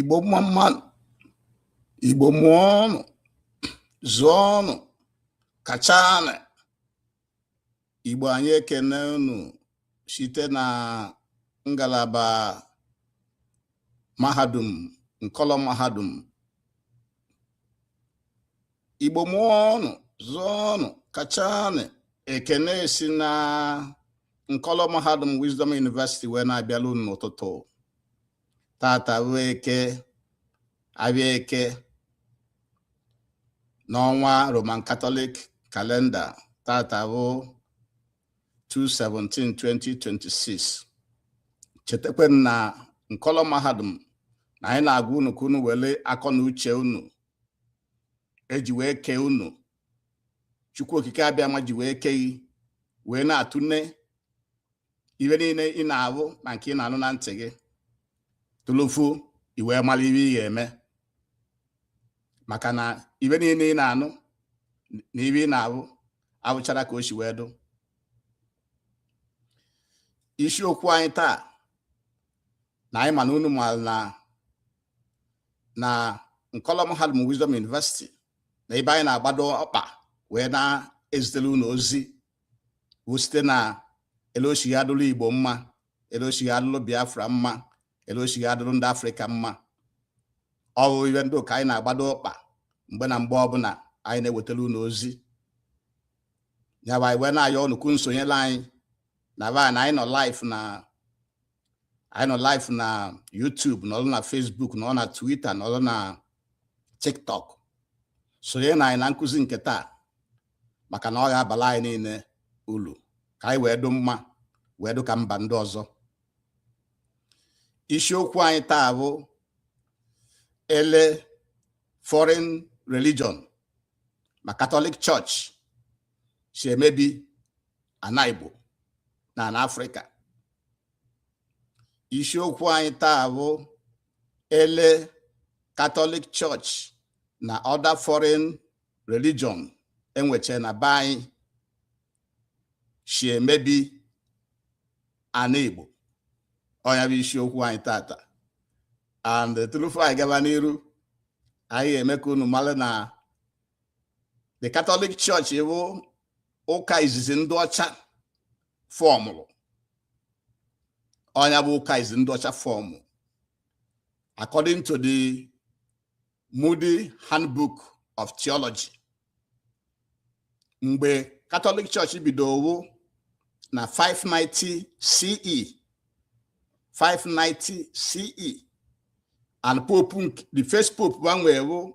igbo mma mma nụ igbo mụọnụ zụọnụ kachanụ igbo anyị ekene unu site na ngalaba mahadum nkọlọ mahadum igbo mụọnụ zụọnụ kachanụ ekene si na nkọlọ mahadum wisdom university wee na-abịala unu n'ụtụtụ tata bụ eke afịa eke n'ọnwa roman katọlik kalenda tata bụ 2/17/2026 chetakwa na nkọlọ mahadum na anyị na-agwa unu ka unu were akọ na uche unu eji wee kee unu chukwu okike abịama ji wee kee gị wee na-atụne ife niile ị na-ahụ na nke ị na-anụ na ntị gị tụlụfu i wee mara ife ị ga-eme maka na ife niile ị na-anụ na ife ị na-ahụ abụcharọ ka o si wee dụ isiokwu anyị taa na anyị ma na unu maara na na nkọlọ mahadum Wisdom University na ebe anyị na-agbado ọkpa wee na-ezitere unu ozi bụ site na ele o si ga-adụrụ Igbo mma ele o si ga-adụrụ Biafra mma ele o si ga-adụrụ ndị Afrịka mma ọ bụ ife ndị ahụ ka anyị na-agbado ọkpa mgbe na mgbe ọbụla anyị na-ewetara unu ozi nya bụ anyị wee na-ayọ unu ka unu sonyere anyị na ba na anyị nọ live na anyị nọ live na YouTube nọrọ na Facebook nọrọ na Twitter nọrọ na TikTok sonye na anyị na nkụzi nke taa maka na ọ ga-abala anyị niile ulu ka anyị wee dụ mma wee dụ ka mba ndị ọzọ isiokwu anyị taa bụ ele foreign religion ma Catholic Church si emebi ana Igbo na ana Afrịka isiokwu anyị taa bụ ele Catholic Church na other foreign religion enweche na be anyị si emebi ana Igbo ọ nya bụ isiokwu anyị tata and turufu anyị gaba n'iru anyị ga-eme ka unu mara na the Catholic Church bụ ụka izizi ndị ọcha fọmụrụ ọ nya bụ ụka izizi ndị ọcha fọmụ according to the Moody Handbook of Theology mgbe Katọlik Church bidowo na 590 CE 590 CE and pope the first pope ba nwee bụ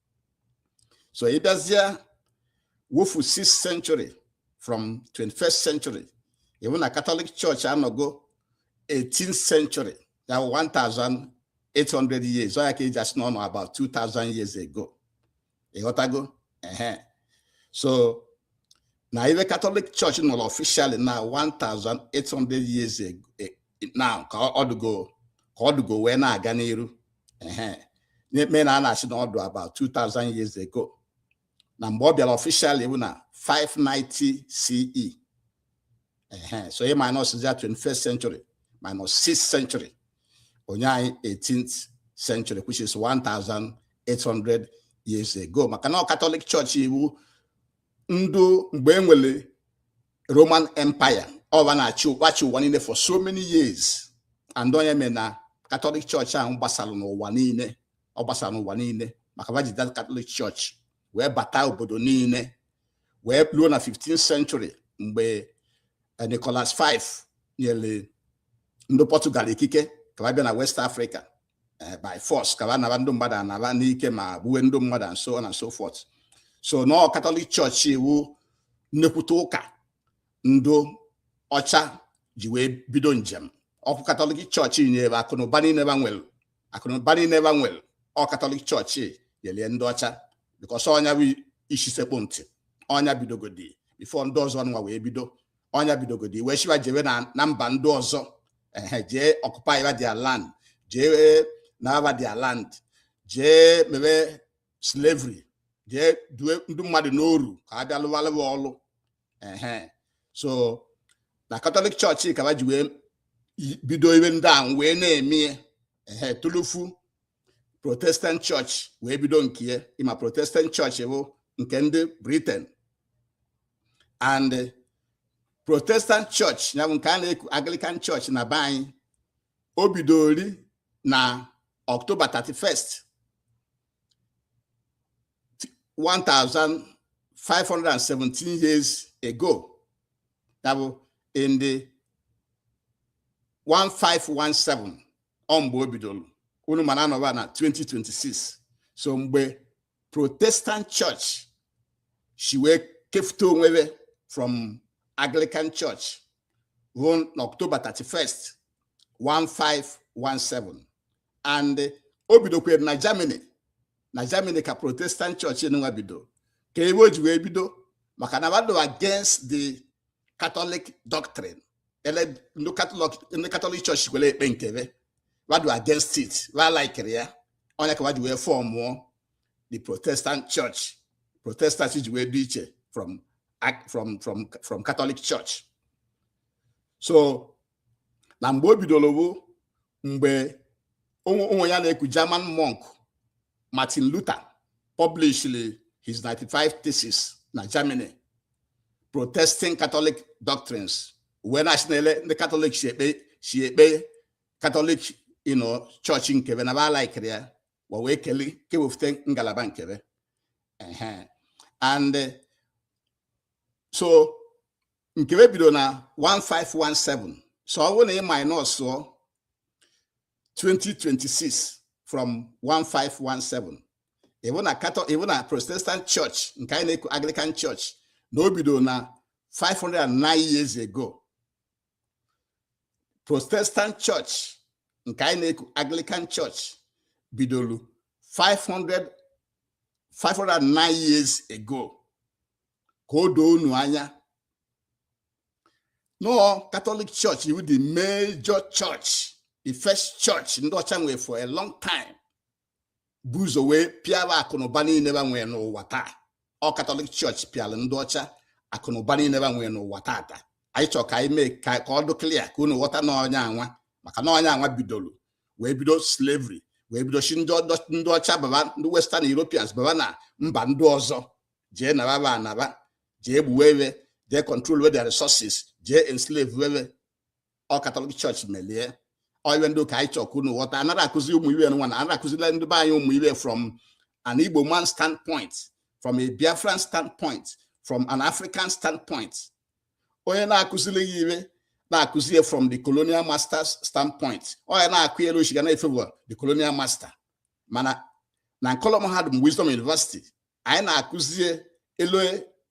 so ị bịazie wofu 6th century from 21st century ị hụ na Catholic Church anọgo 18th century ya 1800 years ọ ya ka e ji asị na ọ nọ about 2000 years ago ị ghọtago ehe so na ive Catholic Church nọrọ officially na 1800 years ago na ka ọ dụgo ka ọ dụgo wee na-aga n'iru ehe ya mee na a na-asị na ọ dụ about 2000 years ago na mgbe ọ bịara official wụ na 590 CE so ị minus ya 21st century minus 6th century o nye anyị 18th century which is 1800 years ago maka na katọlik chọọchị wụ ndị mgbe e nwere roman empire ọ ba na-achị ba chị ụwa niile for so many years and ọ nya mee na katọlik chọọchị ahụ gbasara n'ụwa niile ọ gbasara n'ụwa niile maka ba ji that katọlik chọọchị wee bata obodo niile wee ruo na 15th century mgbe eh, Nicholas V nyere ndị Portugal ikike ka ba bịa na West Africa eh, by force ka ba naba ndị mmadụ ana ba n'ike ma gbuwe ndị mmadụ and so on and so forth so na ọ katọlik chọọchị wụ nnekwute ụka ndị ọcha ji wee bido njem ọkụ katọlik chọọchị nyere akụnụba niile ba nwere akụnụba niile ba nwere ọ katọlik chọọchị nyelie ndị ọcha because ọ nya bụ isi sekpụ ntị ọ nya bidogodi before ndị ọzọ nwa wee bido ọ nya bidogodi wee shi ba jebe na mba ndị ọzọ ehe jee occupy their land jee naraba their land jee mebe slavery jee duwe ndị mmadụ n'oru ka a bịa lụbalụ ba ọlụ ehe so na katọlik chọọchị ka ba ji wee bido ive ndị a wee na-eme ehe tulufu protestant church wee bido nke ị ma protestant church bụ nke ndị Britain and protestant church ya bụ nke a na-eku anglican church na be anyị o bidori na october 31st 1517 years ago ya bụ in the 1517 ọ mgbe o bidolu unu ma na anọ ba na 2026 so mgbe protestant church shi wee kefute onwe be from anglican church on october 31st 1517 and o bidokwere na germany na germany ka protestant church nwa bido ka ebe o ji wee bido maka na ba dụ against the catholic doctrine ele ndị catholic ndị catholic church kwere ekpe nke be wa dụ against it wa alaikirọ ya ọ nya ka wa ji wee fọmụọ the protestant church protestant ji wee dị iche from ac- from from from catholic church so na mgbe o bidolo bụ mgbe onwe ya na-eku German monk Martin Luther published his 95 theses na Germany protesting Catholic doctrines wee na-asị na ele ndị Catholic si ekpe si ekpe Catholic you know church nke be na ba alaikirọ ya wa wee kele kewefute ngalaba nke be and so nke be bido na 1517 so ọ bụrụ na ị minus 2026 from 1517 ị vụ na katọ ị vụ na protestant church nke anyị na-eku anglican church na o bido na 509 years ago protestant church nke anyị na-eku anglican church bidoro 500 509 years ago ka o doo unu anya na ọ catholic church wụ the major church the first church ndị ọcha nwe for a long time bu ụzọ wee pịara akụnụba niile ba nwe n'ụwa taa ọ catholic church pịara ndị ọcha akụnụba niile ba nwe n'ụwa tata anyị chọrọ ka anyị mee ka ọ dụ clear ka unu ghọta na ọ nya nwa maka na ọ nya nwa bidoro wee bido slavery wee bido shi ndị ọcha baba ndị western europeans baba na mba ndị ọzọ jee naba ba ana ba jee gbuwe we jee controlwe their resources jee enslavewe we ọ catholic church melie ọ iwe ndị a ka anyị chọ ka unu ghọta anara akụzi ụmụ iwe nwa na anara akụzila ndị be anyị ụmụ iwe from an igbo man standpoint from a biafran standpoint from an african standpoint onye na-akụziri ya iwe na-akụzi ya from the colonial masters standpoint ọ ya na-akọ ele o shi ga na-efewa the colonial master mana na nkolom ha dị wisdom university anyị na-akụzi ele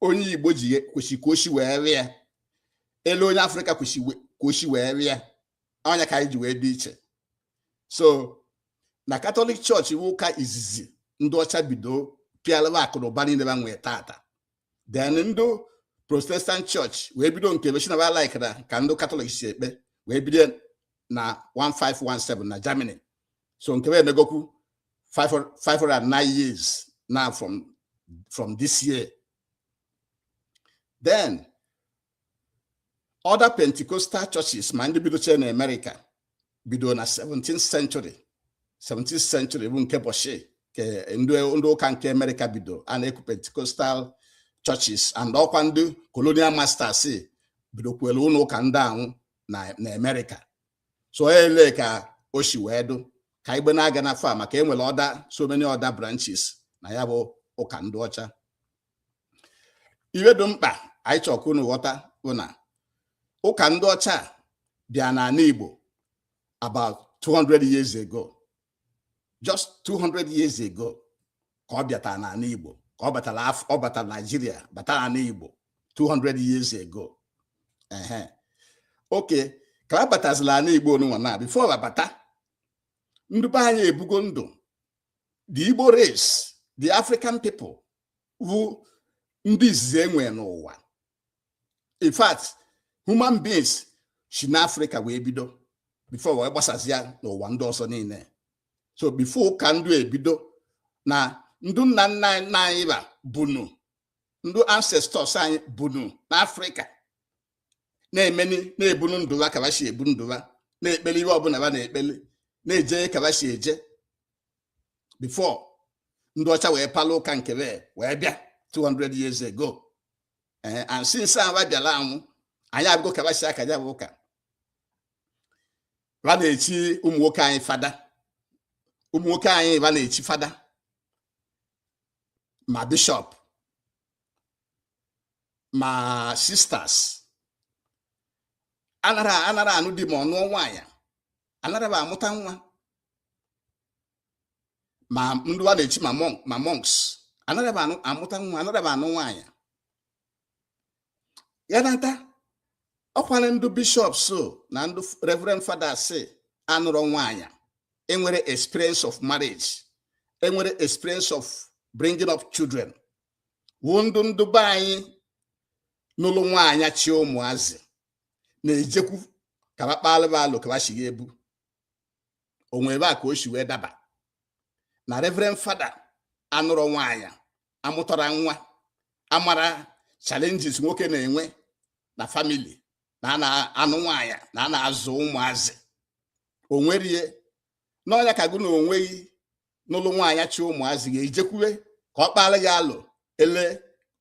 onye Igbo ji kwesị ka o si wee rịa ele onye Africa kwesị ka o si wee rịa ọ nya ka anyị ji wee dị iche so na Catholic church wụ ụka izizi ndị ọcha bido pịalaba akụnụba niile ba nwee tata then ndị Protestant church wee bido nke be sị na ba likera ka ndị Catholic si ekpe wee bido na 1517 na Germany so nke be emegokwu 509 years now from from this year then other Pentecostal churches ma ndị bidochie na America bido na 17th century 17th century bụ nke bọchị ke ndị ụka nke America bido a na-eku Pentecostal churches and ọ kwa ndị colonial masters bidokwara ụnọ ụka ndị anwụ na America so ele ka o si wee dụ ka igbe na-aga na far maka enwere other so many other branches na ya bụ ụka ndị ọcha iwe dụ mkpa anyị chọrọ ka unu ghọta bụ na ụka ndị ọcha bịa n'ana Igbo about 200 years ago just 200 years ago ka ọ bịatara n'ala Igbo ka ọ batara ọ batara Nigeria batara n'ala Igbo 200 years ago ehe okay ka a batazila ala Igbo nunwa na before ba abata ndị be anyị ebugo ndụ the Igbo race the African people bụ ndị izizi e nwee n'ụwa in fact human beings si n'Africa wee bido before wee gbasazia n'ụwa ndị ọzọ niile so before ụka ndụ ebido na ndụ nna nna anyị ba bunu ndụ ancestors anyị bunu n'Africa na-emeni na-ebunu ndụ ba ka ba si ebu ndụ ba na-ekpeli iwe ọbụla ba na-ekpeli na-eje ka ba si eje before ndị ọcha wee palụ ụka nke be wee bịa 200 years ago ee eh, and since ba bịala anwụ anyị afụgo ka ba si aka ya bụ ụka ba na-echi ụmụ nwoke anyị fada ụmụ nwoke anyị ba na-echi fada ma bishop ma sisters anara anara anụ di ma ọ nụọ nwaanyị anara ba amụta nwa ma ndị ba na-echi ma monks anara ba amụta nwa anara ba anụ nwaanyị ya nata ọkwara ndị bishop so na ndị reverend fathers anụrọ nwaanyị enwere experience of marriage enwere experience of bringing up children wụ ndụ ndụ be anyị nụlụ nwaanyị chi ụmụazị na-ejekwu ka ba kpaalụ ba alo ka ba shi ga-ebu o nwe ebe a ka o si wee daba na reverend fada anụrọ nwaanyị amụtara nwa amara challenges nwoke na-enwe na family na a na-anụ nwaanyị na a na-azụ ụmụazị onwerie na ọ nya ka gụ na onwe gị nụlụ nwaanyị chị ụmụazị ga-ejekwuwe ka ọ kpaara gị alo ele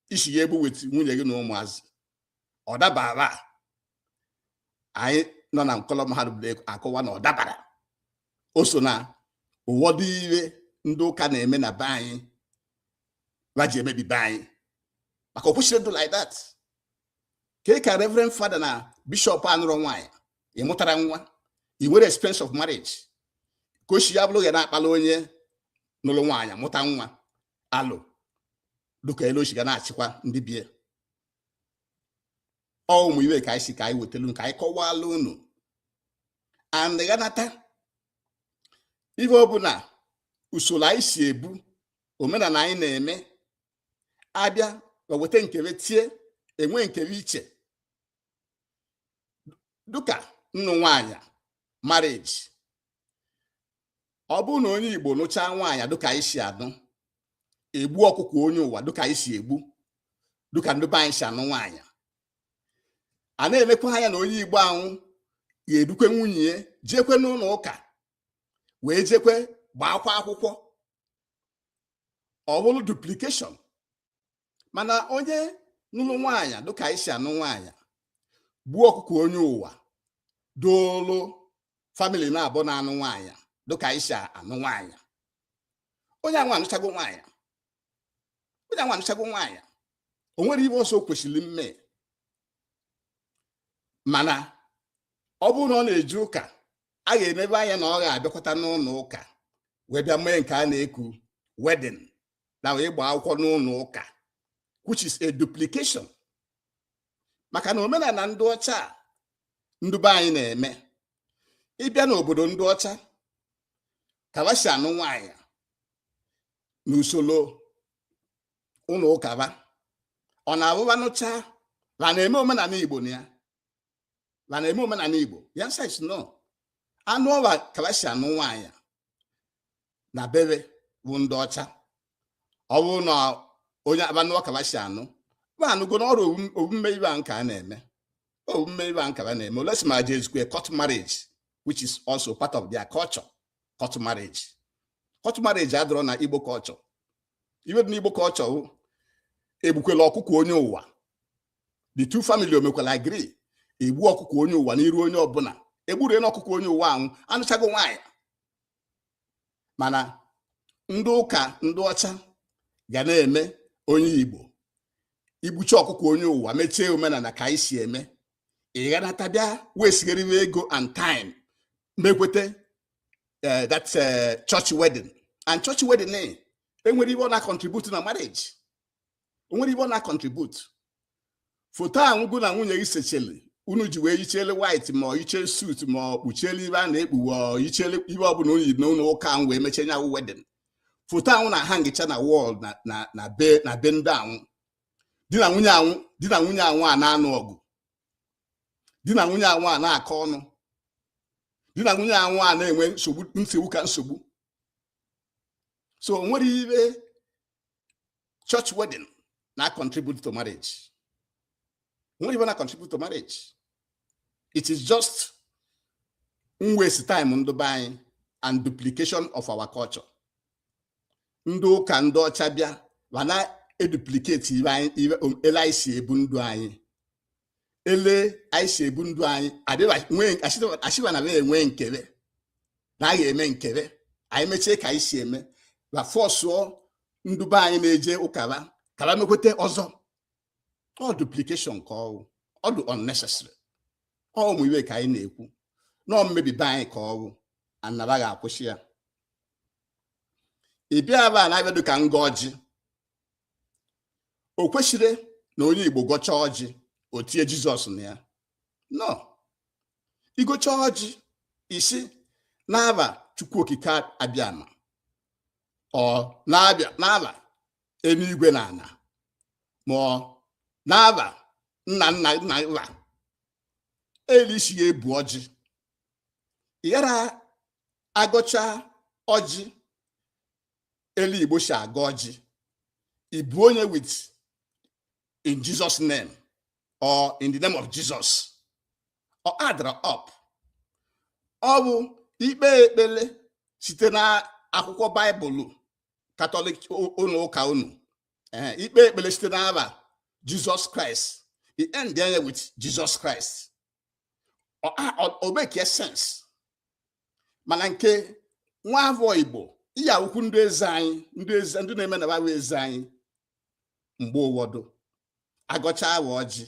i si ga-ebu weta nwunye gị na ụmụazị ọ dabara anyị nọ na nkọlọ mahadum na-akọwa na ọ dabara o so na ụwọdụ ive ndị ụka na-eme na be anyị ha ji emebi be anyị maka o kwesịrị ndụ like that kee ka reverend fada na bishop anụrọ nwaanyị ị mụtara nwa i nwere experience of marriage ka o si ya bụrụ ga na-akpala onye nụrụ nwaanyị mụta nwa alo dụka ele o si ga na-achịkwa ndị bie ọ ụmụ ive ka anyị sị ka anyị wetara ka anyị kọwala unu and ga-anata ihe ọ bụla usoro anyị si ebu omenala anyị na-eme abịa ba weta nke be tie enwe nke be iche dịka nnụ nwaanyị marriage ọ bụrụ na onye Igbo nụchaa nwaanyị dịka anyị si anụ egbu ọkụkọ onye ụwa dịka anyị si egbu dịka ndị be anyị si anụ nwaanyị a na-emekwa anya na onye Igbo anwa ga-edukwe nwunye ya jekwe n'ụlọ ụka wee jekwe gbaakwa akwụkwọ ọ bụrụ duplication mana onye nụrụ nwaanyị dịka anyị si anụ nwaanyị gbuo ọkụkọ onye ụwa doolu family naabọ na anụ nwaanyị dịka anyị si anụ nwaanyị onye anwa anụchago nwaanyị onye anwa anụchago nwaanyị o nwere ive ọzọ o kwesịrị mme mana ọ bụrụ na ọ na-eje ụka a ga-emebe anya na ọ ga-abịakwata n'ụlọ ụka wee bịa mee nke a na-eku wedding na ịgba akwụkwọ n'ụlọ ụka which is a duplication maka na omenala ndị ọcha ndị be anyị na-eme ị bịa n'obodo ndị ọcha ka ba shi anụ nwaanyị n'usoro ụlọ ụka ba ọ na-abụ ba nụcha ha na-eme omenala igbo na ya ha na-eme omenala igbo the answer is no anụọ ba ka ba shi anụ nwaanyị na be be bụ ndị ọcha ọ bụrụ na onye a ba nụọ ka ba si anụ ba anụgo na ọrụ omume ive a nke a na-eme omume ive a nke ba na-eme unless ma je ezukwe court marriage which is also part of their culture court marriage court marriage adịrọ na igbo culture ive dị n'igbo culture egbukwela ọkụkọ onye ụwa the two family omekwala agree egbu ọkụkọ onye ụwa n'iru onye ọbụla egburu na ọkụkọ onye ụwa anwụ anụchago nwaanyị mana ndị ụka ndị ọcha ga na-eme onye igbo igbuchi ọkụkọ onye ụwa mechie omenala ka anyị si eme ị ga-anata bịa wesigharịwa ego and time mekweta eh, that eh, church wedding and church wedding eh, enwere ibe ọ na-contribute na marriage o nwere ibe ọ na-contribute foto anwụ gụ na nwunye gị sechele unu ji wee yichele white ma ọ yiche suit ma ọ kpuchiele ibe a na-ekpuwe ọ yichele ibe ọbụla unu yi n'ụlọ ụka ahụ wee mechie nya wụ wedding foto anwụ na-ahangịcha na wall na na na be na be ndị anwụ di na nwunye anwụ di na nwunye anwụ a na-anụ ọgụ di na nwunye anwụ a na-akọ ọnụ di na nwunye anwụ a na-enwe nsogbu nsogbu ka nsogbu so o nwere ibe church wedding na-contribute to marriage nwere ibe ọ na-contribute to marriage it is just waste time ndụ be anyị and duplication of our culture ndị ụka ndị ọcha bịa ma na-eduplicate ele anyị si ebu ndụ anyị ele anyị si ebu ndụ anyị asịba na enwe nke be na anyị eme nke be anyị mechie ka anyị si eme ba fọsụọ ndụ be anyị na-eje ụka ba ka ba mekweta ọzọ ọ duplication ka ọwụ ọ dị unnecessary ọ ụmụ iwe ka anyị na-ekwu na ọ mmebi be anyị ka ọwụ na ba ga-akwụsị ya ị bịa ebe a na-abịa dị ka ngọ ọjị o kwesịrị na onye Igbo gọchaa ọjị o tie Jizọs na ya no ị gọcha ọjị i si n'aba Chukwu Okike abịama ọ na-abịa n'aba eluigwe na ana ma ọ n'aba nna nna nna nna eli i si ya ebu ọjị yara agọcha ọjị eli igbo si agọ ọjị ibu onye with in jesus name or in the name of jesus ọ adra up ọ bụ ikpe ekpele site na akwụkwọ baịbụl katọlik ụlọ ụka unu ikpe ekpele site n'aba jesus christ i end enye with jesus christ o make sense mana nke nwa afọ igbo ị ya-awụkwu ndị eze anyị ndị eze ndị na-eme na ba wụ eze anyị mgbe ụwọdụ agọcha awa ọjị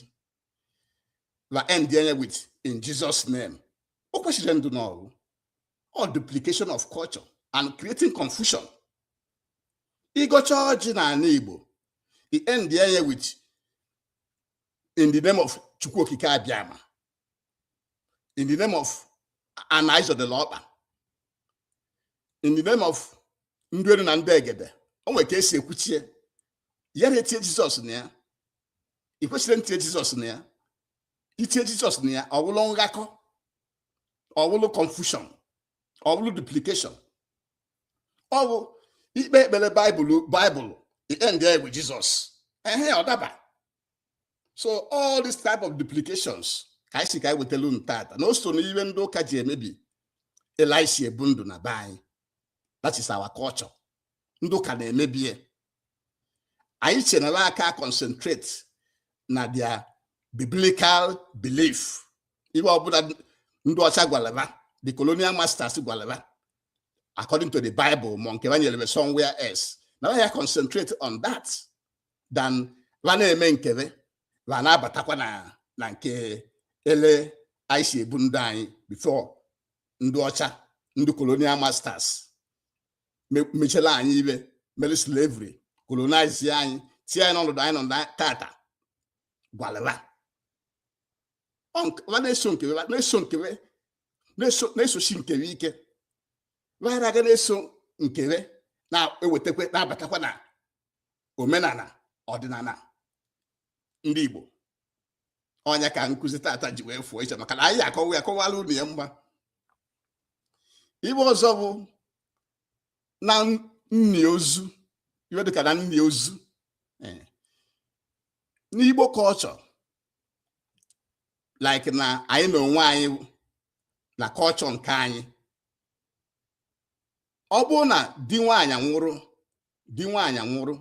ba end enye with in Jesus name o kwesịrị ndụ na ọ wụ all duplication of culture and creating confusion ịgọcha ọjị n'ala Igbo i end enye with in the name of Chukwu Okike Abịama in the name of Ana ị zọdela ọkpa in the name of ndị elu na ndị egede o nwere ka e si ekwuchie ya na etie Jizọs na ya i kwesirọ ntie Jizọs na ya i tie Jizọs na ya ọ bụrụ nghakọ ọ bụrụ confusion ọ bụrụ duplication ọ bụ i kpe ekpere baịbụl i endie with Jizọs ehe ọ daba so all this type of duplications ka anyị sị ka anyị wetara unu tata na o so n'ihe ndị ụka ji emebi ele e si ebu ndụ na be anyị that is our culture ndị ụka na-emebi ya anyị che na va ka concentrate na their biblical belief ihe ọbụla ndị ọcha gwala va the colonial masters gwala va according to the bible ma nke va nyere va somewhere else na ya concentrate on that than va na-eme nke va va na-abatakwa na na nke ele anyị si ebu ndụ anyị before ndị ọcha ndị colonial masters mechala anyị iwe mere slavery colonize anyị tie anyị n'ọnọdụ anyị nọ na tata gwala va na-eso nke va na-eso nke va na-esochi nke va ike vaghara aga na-eso nke va na-ewetakwa na-abatakwa na omenala ọdịnala ndị Igbo ọ nya ka nkụzi tata ji wee fụọ iche maka na anyị akọwa ya akọwala unu ya mgba iwe ọzọ bụ na nni ozu iwe dịka na nni ozu eh. n'Igbo culture like na anyị na onwe anyị na culture nke anyị ọ bụrụ na di nwaanyị nwụrụ di nwaanyị nwụrụ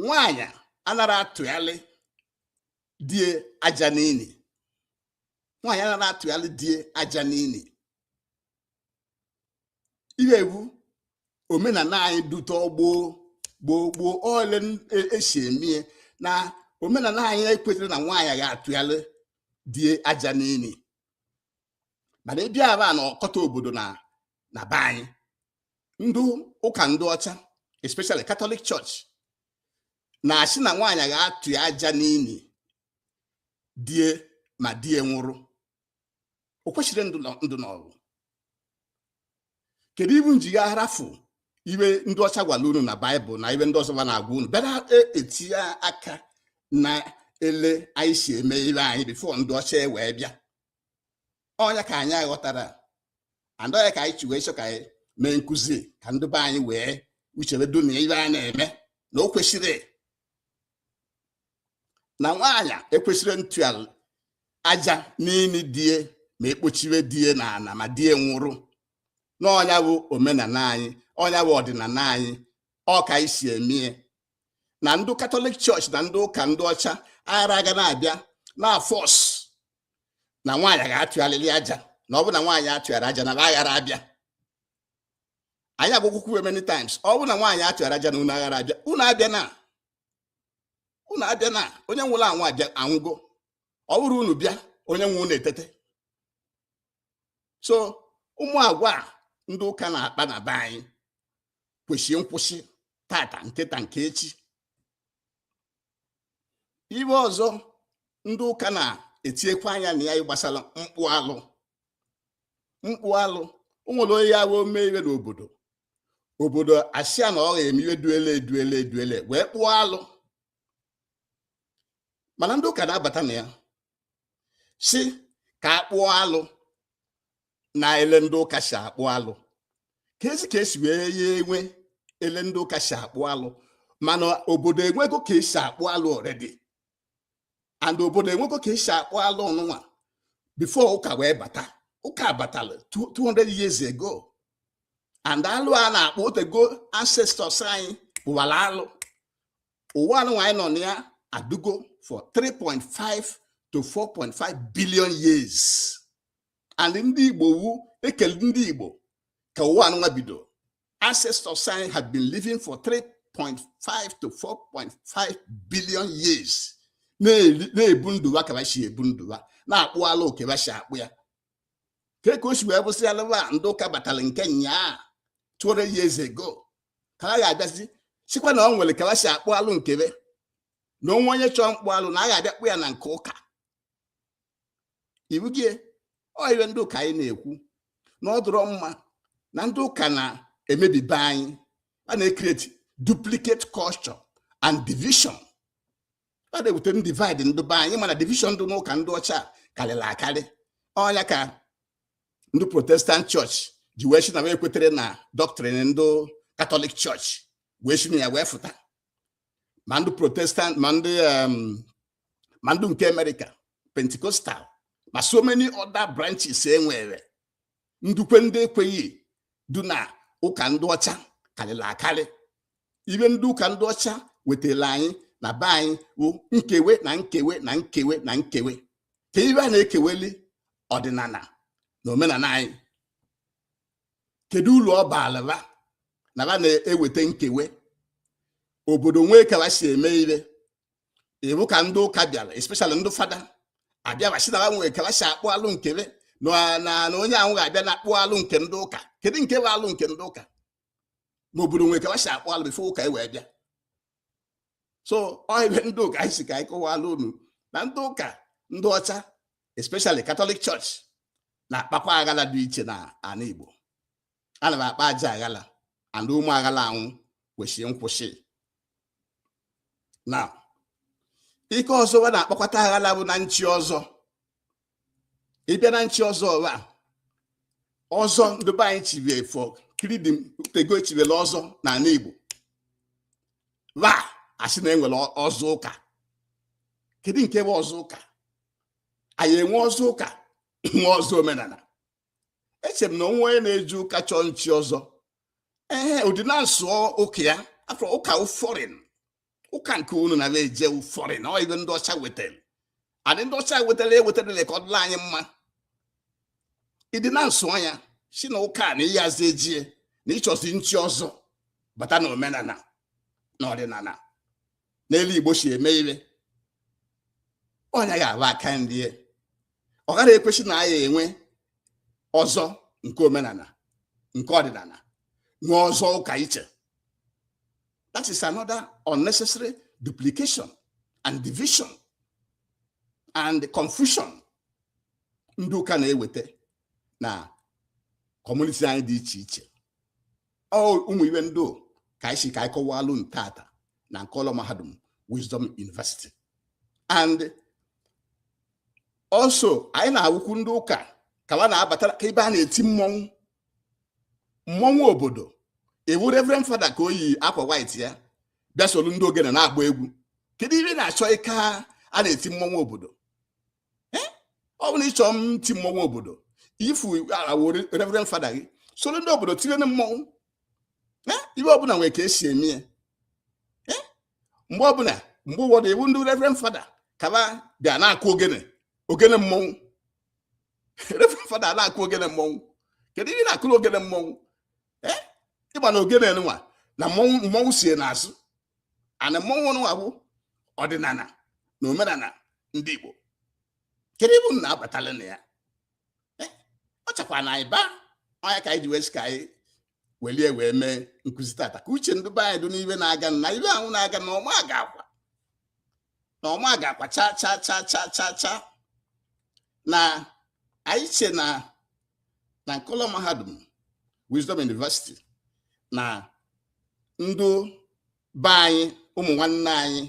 nwaanyị anarọ atụalị di e aja n'ili nwaanyị anarọ atụalị di e aja n'ili ihe a bụ omenala anyị dute gboo gboo gboo ole e si emie na omenala anyị ekwetarọ na nwaanyị ga-atụalị di e aja n'ili mana ị bịa aba na ọkọta obodo na na be anyị ndị ụka ndị ọcha especially Catholic Church na-asị na nwaanyị ga-atụa aja n'ili di e ma di e nwụrụ o kwesirọ ndụ n'ọrụ kedu iwe unu ji ga arafụ iwe ndị ọcha gwara unu na baịbụl na iwe ndị ọzọ va na-agwa unu bịa na-etie aka na ele anyị si eme iwe anyị before ndị ọcha e wee bịa ọnya ka anyị aghọtara and ọnya ka anyị ji wee chọọ ka anyị mee nkụzi ka ndị be anyị wee uche be dụ na iwe a na-eme na o kwesịrị na nwaanyị ekwesịrọ ntụ aja n'ini die ma e kpochiwe die na ana ma die nwụrụ na ọnya bụ omenala anyị ọnya bụ ọdịnala anyị ọ ka anyị si emie na ndị katọlik chọọchị na ndị ụka ndị ọcha aghara aga na-abịa na-force na nwaanyị ga-atụrịrị aja na ọ bụrụ na nwaanyị atụghara aja na aghara abịa anyị agwagokwu we many times ọ bụrụ na nwaanyị atụghara aja na unu aghara abịa unu abịana unu abịana onye nwụrụ anwụ abịa anwụgo ọ bụrọ unu bịa onye nwụrụnụ etete so ụmụ agwa ndị ụka na-akpa na be anyị kwesịrị nkwụsị tata nketa nke echi iwe ọzọ ndị ụka na-etinyekwa anya na ya gbasara mkpụ alụ mkpụ alụ o nwere onye ya-awụ o mee iwe n'obodo obodo asịa na ọ ga-eme iwe dụ ele dụ ele dụ ele wee kpụọ alụ mana ndị ụka na-abata na ya sị ka a kpụọ alụ na ele ndị ụka si akpụ alụ ka esi ka esi wee ya enwe ele ndị ụka si akpụ alụ mana obodo enwego ka esi akpụ alụ already and obodo enwego ka esi akpụ alụ anụnwa before ụka wee bata ụka batara 200 years ago and alụ a na-akpụ otego ancestors anyị kpụwara alụ ụwa anụnwa anyị nọ na ya adụgo for 3.5 to 4.5 billion years and ndị Igbo wụ e kele ndị Igbo ka ụwa anụnwa bido ancestors anyị have been living for 3.5 to 4.5 billion years na-ebu ndụ ha ka ha si ebu ndụ ha na-akpụ alụ oke ha si akpụ ya ka ka o si wee bụsị alụwa ndị ụka batara nke nyaa 200 years ago ka ha ga-abịazi sịkwa na o nwere ka ha si akpụ alụ nke be na o nwee onye chọọ mkpụ alụ na a ga-abịa kpụ ya na nke ụka ibugie ọ iwe ndị ụka anyị na-ekwu na ọ dụrọ mma na ndị ụka na-emebi be anyị a na-ecreate duplicate culture and division a na-ewete ndivide ndị be anyị mana division dị n'ụka ndị ọcha karịrị akarị ọnya ka ndị protestant church ji wee sị na we ekwetere na doctrine ndị katọlik church wee si na ya wee fụta ma ndị protestant ma ndị um, ma ndị nke America Pentecostal ma so many other branches e nwere ndị kwe ndị ekweghị du na ụka ndị ọcha karịrị akarị ibe ndị ụka ndị ọcha wetara anyị na be anyị bụ nkewe na nkewe na nkewe na nkewe kee ibe a na-ekeweli ọdịnala na omenala anyị kedu uru ọ baara ba na ba na-eweta nkewe obodo nwee ka ba si eme ibe ị wụ ka ndị ụka bịara especially ndị fada abịa ba sị na ba nwee ka ba si akpụ alụ nke ba na na na onye ahụ ga-abịa na akpụ alụ nke ndị ụka kedu nke bụ alụ nke ndị ụka ma obodo nwee ka ba si akpụ alụ before ụka e wee bịa so ọ ibe ndị ụka anyị sị ka anyị kọwalụ unu na ndị ụka ndị ọcha especially Catholic Church na-akpakwa aghala dị iche na ala Igbo a na ba akpa ajọ aghala and ụmụ aghala anwụ kwesịrị nkwụsị na ike ọzọ wa na-akpakọta aghala bụ na nchi ọzọ ị bịa na nchi ọzọ wa ọzọ ndị be anyị chi before kiridim ọ tego e chibelụ ọzọ n'ala Igbo wa asị na e nwere ọzọ ụka kedu nke bụ ọzọ ụka anyị enwe ọzọ ụka nwe ọzọ omenala eche m na o nwe onye na-eje ụka chọọ nchi ọzọ ee ụdị na-asụ ụka ya afọ ụka foreign ụka nke unu na eje foreign na ọ ibe ndị ọcha wetara adị ndị ọcha wetara ewetarala ka ọ dịla anyị mma ịdị na nsụ anya si na ụka na ịyazi ejie na ị chọzi nchi ọzọ bata na omenala na ọdịnala n'etu igbo si eme ibe ọnya ga-aba aka nri ọ gaghị ekwesị na anyị enwe ọzọ nke omenala nke ọdịnala nwee ọzọ ụka iche That is another unnecessary duplication and division and confusion ndị ụka na-eweta na community anyị dị iche iche ọ ụmụ ibe ndị a ka anyị sị ka anyị kọwalụ ntata na nke ụlọ mahadum Wisdom University and also anyị na-awụkwu ndị ụka ka wa na-abata ka ebe a na-eti mmọnwụ mmọnwụ obodo ị wụ reverend fada ka o yi akwa white ya bịa soro ndị ogene na-agba egwu kedu ihe ị na-achọ ka a na-eti mmọnwụ obodo ọ bụrụ na ị chọ iti mmọnwụ obodo yifụ awe reverend fada gị soro ndị obodo tibe mmọnwụ ibe ọbụla nwere ka e si eme ya mgbe ọbụla mgbe ụfọdụ ị wụ ndị reverend fada ka ba bịa na-akụ ogene ogene mmọnwụ fada na-akụ ogene mmọnwụ kedu ihe na-akụrụ ogene mmọnwụ eh? ị ma na ogene nwa na mmọnwụ mmọnwụ sie n'azụ and mmọnwụ nwa bụ ọdịnana na omenana ndị Igbo kedu ihe unu na-abatala na ya eh? ọ chakwa na anyị baa ọnya ka anyị ji wee sị ka anyị welie wee mee nkụzi tata ka uche ndị be anyị dị n'ihe na-aga na ihe ahụ na-aga na ọ ma-agakwa na ọ ma-agakwa cha cha cha cha cha cha na anyị che na na nkọlọ mahadum Wisdom University na ndụ be anyị ụmụ nwanne anyị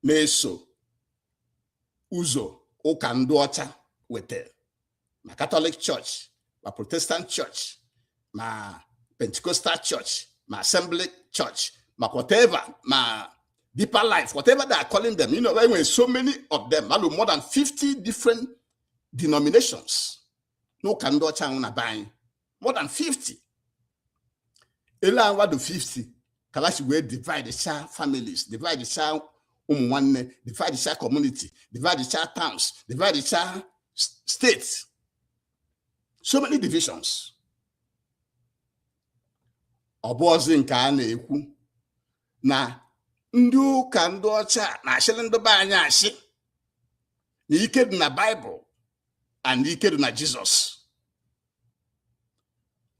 na-eso ụzọ ụka ndụ ọcha wetara ma katọlik chọọchị ma protestant chọọchị ma pentecostal chọọchị ma assembly chọọchị ma whatever ma deeper life whatever they are calling them you know there were so many of them malu more than 50 different denominations n'ụka ndị ọcha ahụ na be anyị more than 50 ele awa do 50 ka ha shi wee divide cha families divide cha ụmụ nwanne divide cha community divide cha towns divide cha states so many divisions ọ bụzị nke a na-ekwu na ndị ụka ndị ọcha na-ashịrị ndị be anyị ashị na ike dị na baịbụl and ike dị na jizọs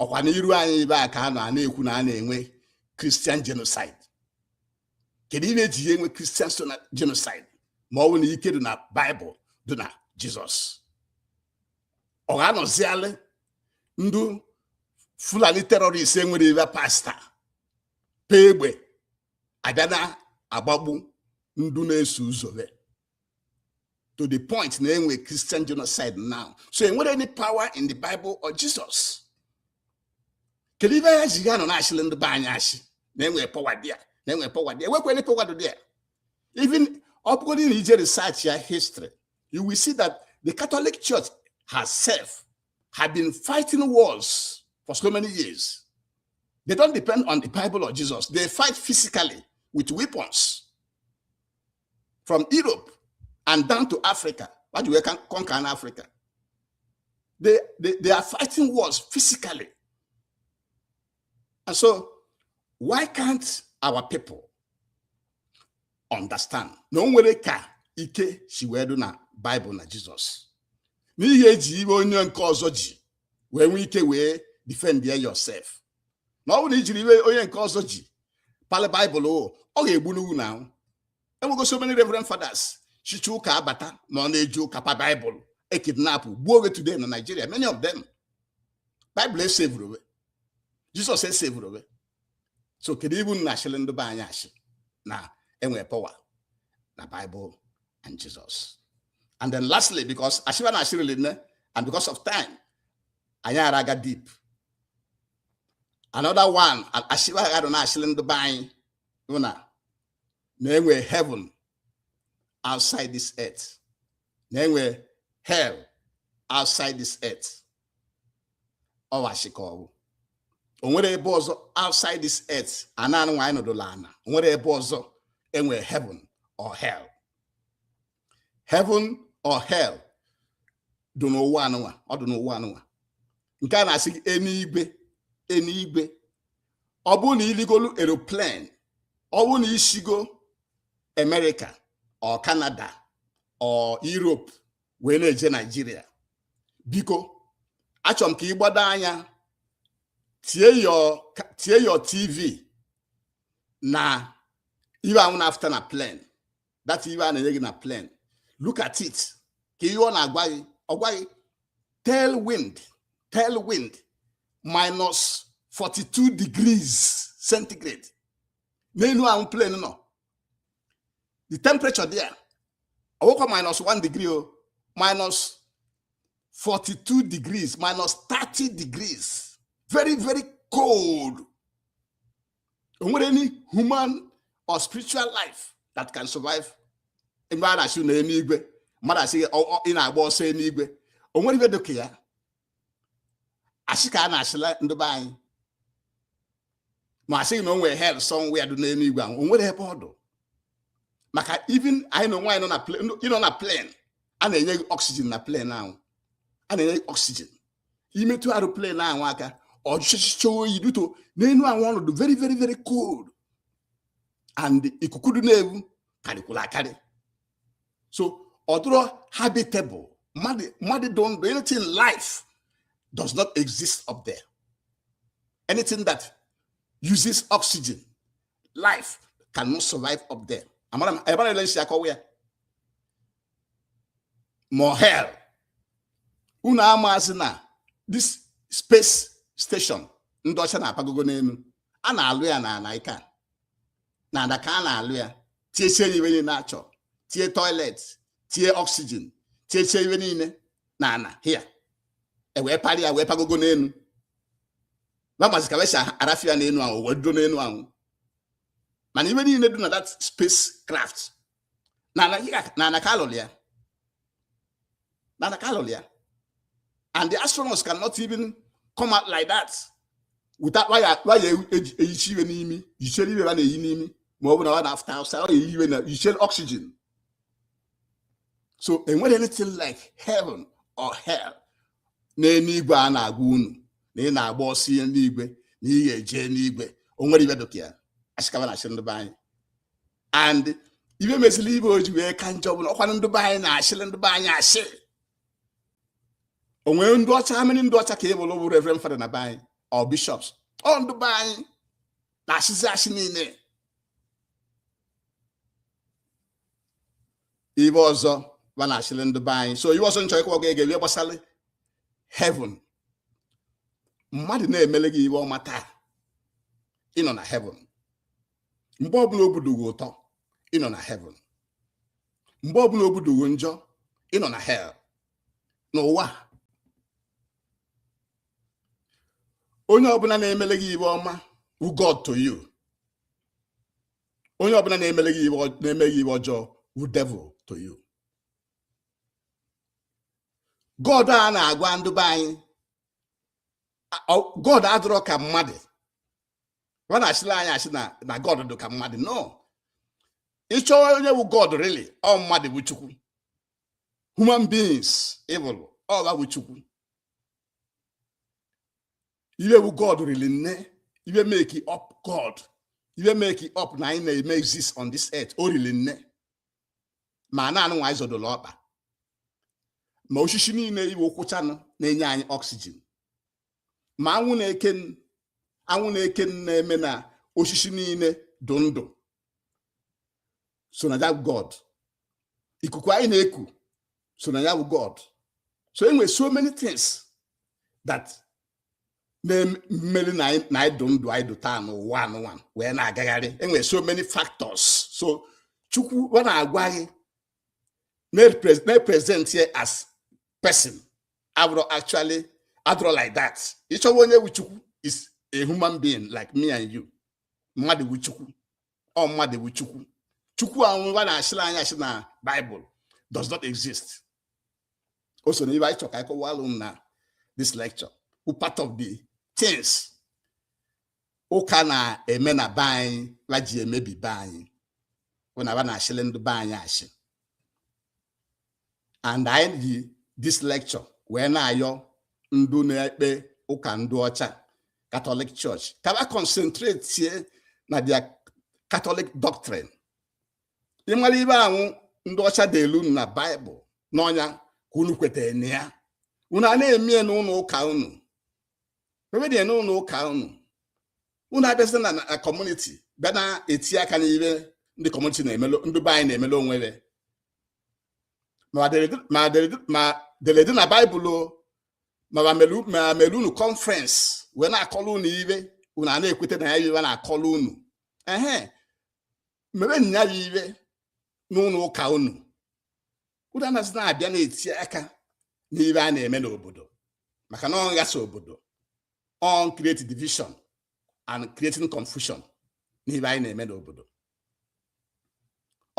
ọkwa n'iru anyị ibe a ka a nọ a na-ekwu na a na-enwe kristian genocide kedu ihe e ji wee enwe kristian genocide ma ọ bụ na ike dị na baịbụl dị na jizọs ọ ga-anọzialị ndụ fulani terọrist enwere ibe pasta pee egbe abịa na-agbagbu ndụ na-eso ụzọ to the point na enwe Christian genocide now so enwere any power in the Bible or Jesus kedu ihe a ya-eji anọ na-ashịlị ndị be anyị ashị na enwe power dị ya na enwe power dị ya enwekwa any power dị ya even ọ bụgodị na i jee research ya history you will see that the Catholic Church herself has been fighting wars for so many years. They don't depend on the Bible or Jesus. They fight physically with weapons. from Europe and down to Africa ha ji wee conquer Africa they, they, they are fighting wars physically and so why can't our people understand na o nwere ka ike si wee dị na Bible na Jizọs na ị ya-eji ihe onye nke ọzọ ji wee nwee ike wee defend yourself na ọ bụrụ na i jiri iwe onye nke ọzọ ji palị baịbụl ọ ga-egbu n'ugwu na ahụ enwego so many reverend fathers si ụka abata ma ọ na-eje ụka pa baịbụl e kidnap gbuo we today na Nigeria many of them baịbụl esevurọ we jizọs esevurọ we so kedu ibu na asịrị ndị be anyị asị na enwe power na baịbụl and jizọs and then lastly because asị ba na-asị rili nne and because of time anyị ara aga deep another one asị ba ga nọ na-asịrị ndị be anyị wụ na na enwe heaven outside this earth na enwe hell outside this earth ọ wụ asị ka ọ wụ o nwerọ ebe ọzọ outside this earth ana anụnwa anyị nọdụla ana o nwerọ ebe ọzọ enwe heaven or hell heaven or hell dị n'ụwa anụnwa ọ dị n'ụwa anụnwa nke a na-asị gị enuigwe enuigwe ọ bụrụ na i ligolu aeroplane ọ bụrụ na i sigo Amerịka or Kanada or Europe wee na-eje Naijiria biko achọrọ m ka ị gbado anya tie your tv na iwe anwụ na-afụta na plane that iwe a na-enye gị na plane look at it ka ihe ọ na-agwa gị ọ gwa gị tail wind tail wind minus 42 degrees centigrade n'enu ahụ plane nọ the temperature there ọ wụkwa minus 1 degree o minus 42 degrees minus 30 degrees very very cold o nwerọ any human or spiritual life that can survive ebe a na-asị na eluigwe mmadụ asị ị na-agba ọsọ eluigwe o nwerọ ebe dịka ya asị ka a na-asịlị ndị be anyị ma asị gị na o nwere hell somewhere dị n'eluigwe ahụ o nwerọ ebe ọ dụ maka even anyịnwa nọ na plane a na-enye gị oxygen na plane ahụ a na-enye gị oxygen i metụ aeroplane ahụ aka ọ jụchịcha oyi due to n'elu ahụ ọ nọ dụ very very very cold and ikuku dị na-ewu karịkwụrụ akarị so ọ dụrọ habitable mmadụ dụ ndụ anything life does not exist up there anything that uses oxygen life cannot survive up there amara m ebara ele nsi akọwa ya ma hell unu amazị na this space station ndị ọcha na-apagogo n'elu a na-alụ ya n'ana ike n'ana ka a na-alụ ya tiesie ya ive niile a chọ tie toilet tie oxygen tiesie ive niile n'ana here e wee parị ya wee pagogo n'elu va mazị ka ve si arafị ya n'elu ahụ wee dụdo n'elu ahụ mana ive niile dị na that space craft n'ana ka alụlụ ya n'ana ka alụlụ ya and the astronauts cannot even come out like that without waya waya eyichi ive n'imi yichere ive ha na-eyi n'imi ma ọ bụ na ọ na-afụta outside ọ na-eyi ive na yichere oxygen so enwerọ anything like heaven or hell n'eluigwe a na-agwa unu na ị na-agba ọsọ ije n'igwe na ị ga-eje n'igwe o nwerọ ive dịka ya ashị ka va na-ashịrị ndị be anyị and ive mezịrị ive o ji wee ka njọ bụ na ọ kwanụ ndị be anyị na-ashịrị ndị be anyị ashị o nwere ndị ọcha how many ndị ọcha ka ị vụrụ bụ reverend fada na be anyị or bishops ọ ndị be anyị na-ashịzi ashị niile ive ọzọ va na-ashịrị ndị be anyị so ive ọzọ m chọ ịkọwa gị ihe gbasara heaven mmadụ na-emele gị ive ọma taa ị nọ na heaven mgbe ọbụla obi dụ ghị ụtọ ị nọ na heaven mgbe ọbụla obi dụ ghị njọ ị nọ na hell n'ụwa onye ọbụla na-emele gị ive ọma wụ God to you onye ọbụla na-emele gị na-eme gị ive ọjọọ wụ devil to you God a na-agwa ndụ be anyị God adịrọ ka mmadụ va na-ashịla anyị ashị na god dị ka mmadụ no ị chọọ onye wụ god really ọ mmadụ bụ chukwu human beings ị vụrụ ọ va bụ chukwu ive wụ god rili nne ive make up god ive make up na anyị na-eme exist on this earth o rili nne ma ana nụnwa anyị zọdoro ọkpa ma oshishi niile ị vụ kwụchanụ na-enye anyị oxygen ma anwụ na-eke anwụ na-eke na-eme na oshishi niile dụ ndụ so na ya wụ god ikuku anyị na-eku so na ya bụ god so enwe so many things that na-emeri na anyị dụ ndụ anyị dụ taa n'ụwa anụnwa wee na-agagharị enwe so many factors so chukwu va na-agwa gị na-represent ya as person abụrọ actually adịrọ like that ịchọwa onye wu chukwu is a human being like me and you mmadụ wu chukwu ọ mmadụ wu chukwu chukwu anwụ ba na-asịlị anyị asị na Bible does not exist o so na ibe anyị chọrọ ka anyị kọwalụ unu na this lecture wu part of the things ụka na-eme na be anyị ba ji emebi be anyị bụ na ba na-asịlị ndị be anyị asị and anyị ji this lecture wee na-ayọ ndụ na-ekpe ụka ndị ọcha Catholic Church ka ba concentratie na their Catholic doctrine ịmara ibe anwụ ndị ọcha delu unu na Bible na ọ nya ka unu kwete na ya unu a na-eme ya n'ụlọ ụka unu ebe dị n'ụlọ ụka unu unu abịazịna na community bịa na-eti aka n'ibe ndị community na-emelo ndị be anyị na-emelo onwe be ma dere- ma dere- ma dere ede na Bible o, ma ma melu ma melu unu conference wee na-akọlụ unu ibe unu a na-ekweta na ya ibe a na-akọlụ unu ehe mebe nya wu ibe n'ụlọ ụka unu unu anazịna abịa na-eti aka n'ibe anyị na-eme n'obodo maka na ọ na-aghasa obodo ọ na-create division and creating confusion n'ibe anyị na-eme n'obodo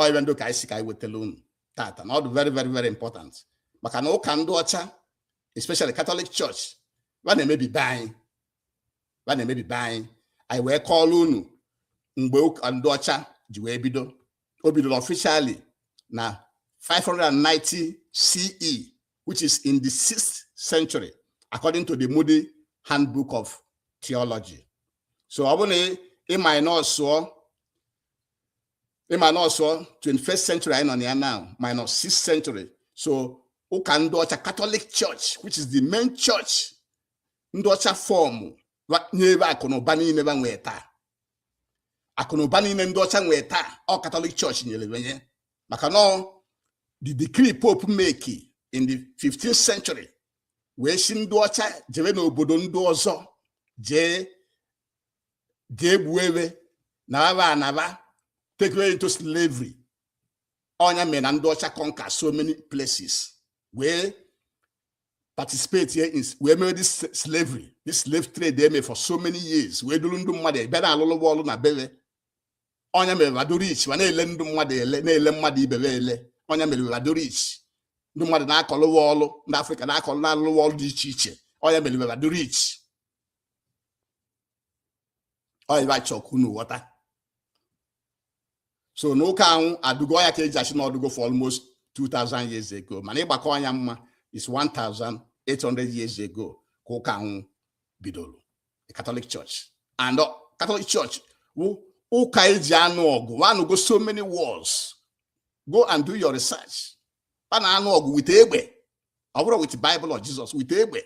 ọ ibe ndị a ka anyị sị ka anyị wetara unu tata na ọ dị very very very important maka na ụka ndị ọcha especially Catholic Church ba na-emebi be anyị ba na-emebi be anyị anyị wee kọọrọ unu mgbe ụka ndị ọcha ji wee bido o bidoro officially na 590 CE which is in the 6th century according to the Moody Handbook of Theology so ọ bụ na ị minusụọ ị minusụọ 21st century anyị nọ na ya now minus 6th century so ụka ndị ọcha Catholic Church which is the main church ndị ọcha form nye be akụnụba niile ba nwee taa akụnụba niile ndị ọcha nwee taa ọ Catholic Church nyere be nya maka na the decree pope make in the 15th century wee sị ndị ọcha jebe n'obodo ndị ọzọ jee jee gbue be na aba anaba take away into slavery ọ nya mere na ndị ọcha conquer so many places wee participatie in wee mee this slavery this slave trade e me for so many years wee duru ndụ mmadụ bịa na-alụlụ ba ọrụ na be be ọ nya mere ba dụ rich ba na-ele ndụ mmadụ ele na-ele mmadụ ibe be ele ọ nya mere ba dụ rich ndị mmadụ na-akọlụ ba ọrụ ndị Africa na-akọlụ na-alụlụ ba ọrụ dị iche iche ọ nya mere ba dụ rich ọ ibe a chọ ka unu ghọta so na ụka anwụ adụgo ọ ya ka eji asị na ọ dụgo for almost 2000 years ago mana ịgbakọ anya mma is 1800 years ago ka ụka anwụ bidoro the Catholic Church and uh, Catholic Church wụ ụka eji anụ ọgụ ba anụgo so many wars go and do your research ba na-anụ ọgụ with egbe ọ bụrọ with Bible or Jesus with egbe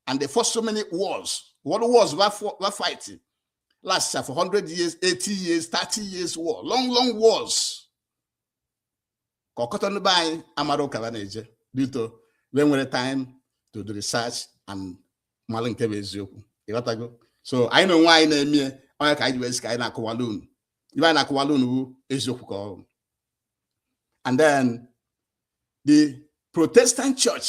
and they fought so many wars world wars were fighting last for 100 years 80 years 30 years war long long wars ka ọkọta ndị be anyị amarọ ụka ba na-eje due to ba enwerọ time to do research and mara nke bụ eziokwu ịghọtago so anyị na onwe anyị na-emie ọ nya ka anyị ji wee sị ka anyị na-akọwalụ unu ive anyị na-akọwalụ unu bụ eziokwu ka ọ dụ and then the protestant church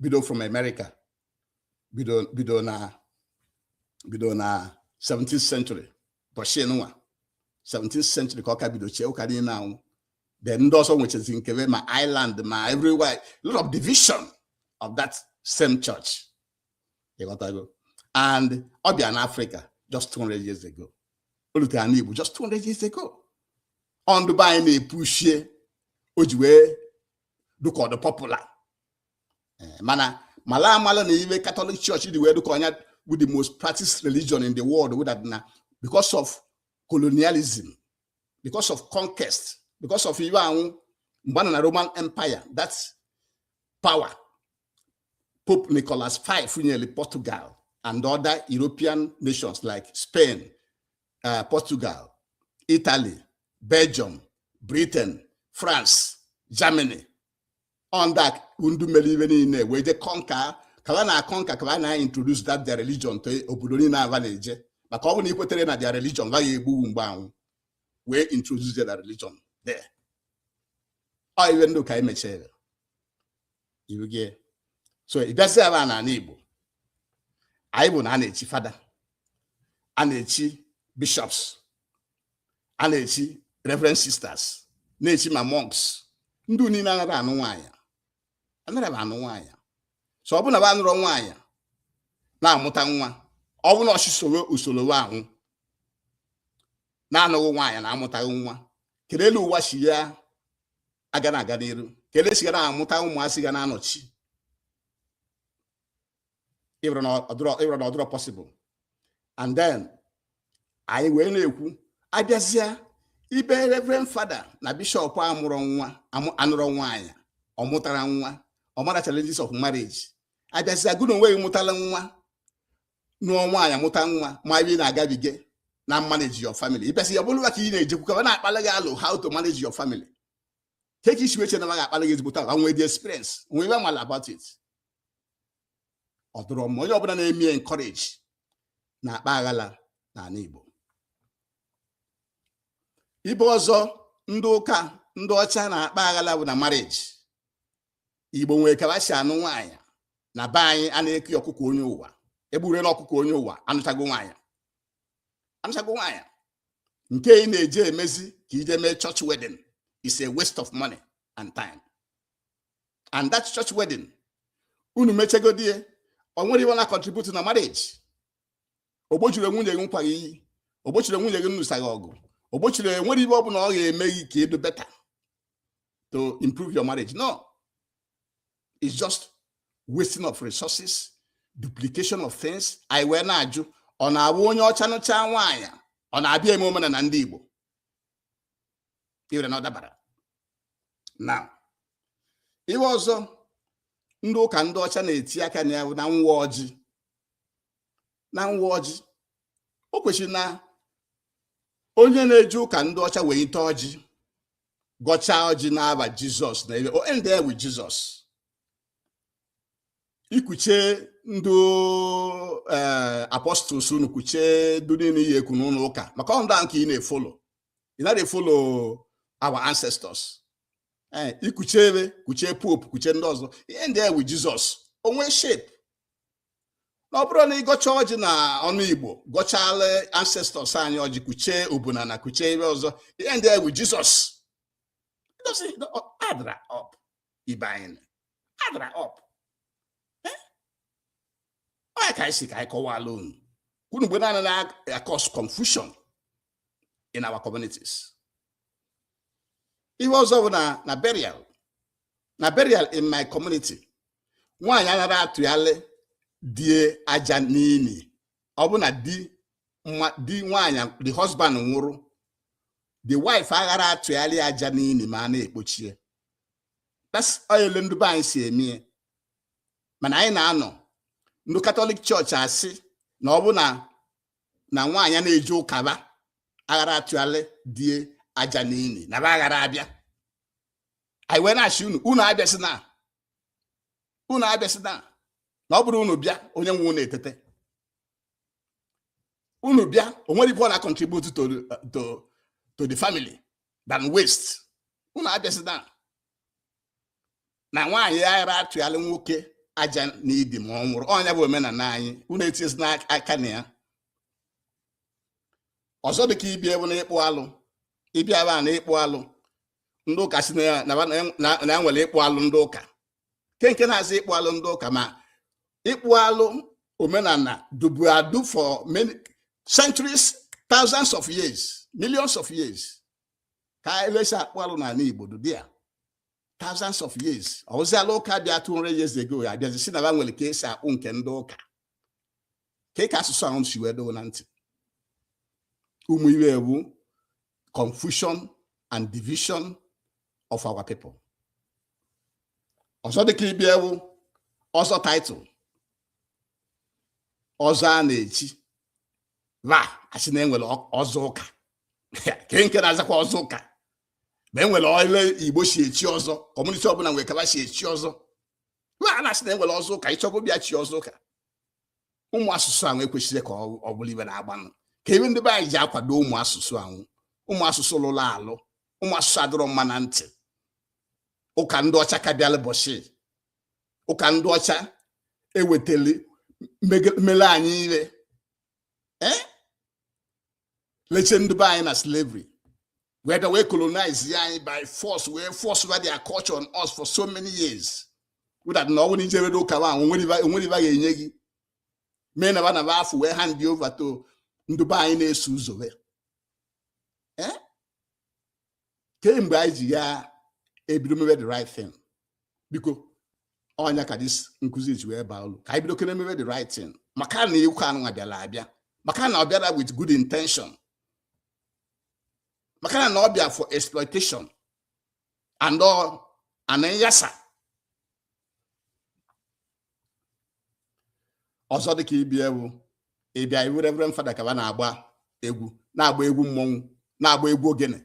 bido from America bido bido na bido na 17th century ụbọsị nụnwa 17th century ka ọ ka bido chie ụka niine anwụ then ndị ọzọ nwechazi nke ba ma Ireland ma everywhere a lot of division of that same church ịghọtago and ọ bịa na Africa just 200 years ago o lute ana Igbo just 200 years ago ọ ndụ be anyị na-epushie o ji wee dụka ọ dụ popular eh, mana malụ amalụ na ive Catholic Church ji wee dụka ọ nya wụ the most practiced religion in the world wụ that na because of colonialism because of conquest because of ive anwụ mgbe na roman empire that power pope nicholas v nyere portugal and other european nations like spain uh, portugal italy belgium britain France, Germany, ọ ndị a ndị mere ive niine wee je conquer ka ba na-conquer ka ba na-introduce that their religion to obodo niine ba na-eje maka ọ bụ na i kweterọ na their religion ba ya-egbu ghụ mgbe anwụ wee introduce their religion there ọ ive ndị ka anyị mechere you get so ị bịaziwa n'ana Igbo anyị bụ na a na-echi fada a na-echi bishops a na-echi reverend sisters na-echi ma monks ndị niine anara anụ nwanya anara ba anụ nwanya so ọ bụ na ba anụrọ nwanya na-amụta nwa ọ bụ na a sị sowe usolo ba anwụ na-anụghị nwanya na-amụtaghị nwa kedu elu ụwa si ya aga na aga n'iru kedu esi ga na-amụta ụmụazị ga na-anọchi ị wụrụ na ọ dụrọ possible and then anyị wee na-ekwu abịazịa ibe reverend fada na bishọp amụrọ nwa amụ- anụrọ nwaanyị ọ mụtara nwa ọ mara challenges of marriage abịazịa gụ na onwe gị mụtara nwa nụọ nwaanyị mụta nwa ma ebe ị na-agabiga na manage your family ị bịa sị ya ọ bụrụ ba ka ị na-ejekwu ka ba na-akpali gị alọ how to manage your family kee ka i si wee chee na ba ga-akpara gị ezigbote agwa nwee the experience nwee ibe amala about it ọ dụrọ mma onye ọbụla na-eme encourage na-akpa aghala n'ala Igbo ibe ọzọ ndị ụka ndị ọcha na-akpa aghala bụ na marriage Igbo nwere ka ha si anụ nwaanyị na be anyị a na-eke ọkụkọ onye ụwa egburela ọkụkọ onye ụwa anụchago nwaanyị anụchago nwaanyị nke ị na-eje emezi ka i jee mee church wedding is a waste of money and time and that church wedding unu mechegodi ya o nwere ibe ọ na contribute na marriage o gbochiri nwunye gị nkwa gị iyi o gbochiri nwunye gị nnụsa gị ọgụ o gbochiri o nwere ibe ọ bụla ọ ga-eme gị ka ị dụ better to improve your marriage no is just wasting of resources duplication of things anyị wee na-ajụ ọ na-abụ onye ọcha nụcha nwaanyị ọ na-abịa eme omenala ndị Igbo ị wụrụ na ọ dabarọ now ibe ọzọ ndị ụka ndị ọcha na-eti aka na ya na nwa ọjị na nwa ọjị o kwesiri na onye na-eje ụka ndị ọcha welite ọjị gọchaa ọjị n'aba jizọs na ebe o endie with jizọs i kuchee ndụ eh, apostles unu kuche ndụ niile ihe ekwu n'ụlọ ụka maka ọ ndị ahụ ka ị na-efolo ị naghị efolo our ancestors ee eh, i kuchee ebe kuche pope kuche ndị ọzọ i endie with jizọs o nwee shape na ọ bụrụ na ị gọchaa ọjị na ọnụ igbo gọchala ancestors anyị ọjị kuchee obuna na kuchee ibe ọzọ i endie with jizọs ọ addrọ up ibe a addrọ up eh? ọ ya ka anyị si ka anyị kọwala unu ka unu mgbe naanị na-akọs confusion in our communities ihe ọzọ bụ na burial na burial in my community nwaanyị aghara atụyalị di e aja n'ini ọ bụ na di di nwaanyị the husband nwụrụ the wife aghara atụyalị aja n'ini ma a na-ekpochi e that's how ndị be anyị si eme mana anyị na-anọ ndị katọlik chọọchị asị na ọ bụ na nwaanyị na-eje ụka ba aghara atụyalị di e aja n'ini na ba aghara abịa anyị wee na-asị unu unu abịa sị na unu abịasịna na ọ bụrụ unu bịa onye nwụrụ etete unu bịa o nwere ife ọ na-contribute to, to, to the family than waste unu abịa sị na na nwaanyị ara atụgharị nwoke aja na ili ma ọ nwụrụ ọ nya bụ omenala anyị unu etinyezina aka na ya ọzọ dịka ibe a bụ na ịkpụ alụ ibe a bụ na ịkpụ alụ ndị ụka si na ya na ba- na- na- na ya nwere ịkpụ alụ ndị ụka ke nke na-aza ịkpụ alụ ndị ụka ma ịkpụ alụ omenala dụbu adụ for many centuries thousands of years millions of years ka ele esi akpụ alụ n'ala igbo dụ there thousands of years ọwụziala ụka bịa 200 years ago ya abịazi si na ba nwere ka esi akpụ nke ndị ụka ke ka asụsụ ahụ si wee dụ na ntị ụmụ ibe a wụ confusion and division of our people ọzọ dịka ibe a wụ ọzọ title ọzọ a na-echi va asị na enwere ọzọ ụka ke nke na-azakwa ọzọ ụka ma enwere ele igbo si echi ọzọ community ọbụla nwere ka ba si echi ọzọ ma a na-asị na e nwere ọzọ ụka ịchọgo bịa chi ọzọ ụka ụmụ asụsụ ahụ ekwesirọ ka ọ bụrụ ibe na-agbanụ ka ibe ndị be anyị ji akwado ụmụ asụsụ ahụ ụmụ asụsụ lụrụ alụ ụmụ asụsụ adịrọ mma na ntị ụka ndị ọcha ka bịala bọchị ụka ndị ọcha ewetele mele anyị ibe leche ndị be anyị na slavery wee bịa wee colonize ya anyị by force wee force over their culture on us for so many years without na ọ wụ na ijerọ ụka ahụ onwerọ ibe ga-enye gị mee na va afụ wee hand over to ndị be anyị na-eso ụzọ wee ke mgbe anyị ji ya ebido mebe the right thing biko ọ nya ka this nkụzi ji wee baa ulu ka anyị bido kene mebe the right thing maka na ụka anụnwa bịara abịa maka na ọ bịara with good intention maka na na ọ bịa for exploitation and all and then yasa ọzọ dịka ibe a wụ ibe a wụ reverend father ka ba na-agba egwu na-agba egwu mmọnwụ na-agba egwu ogene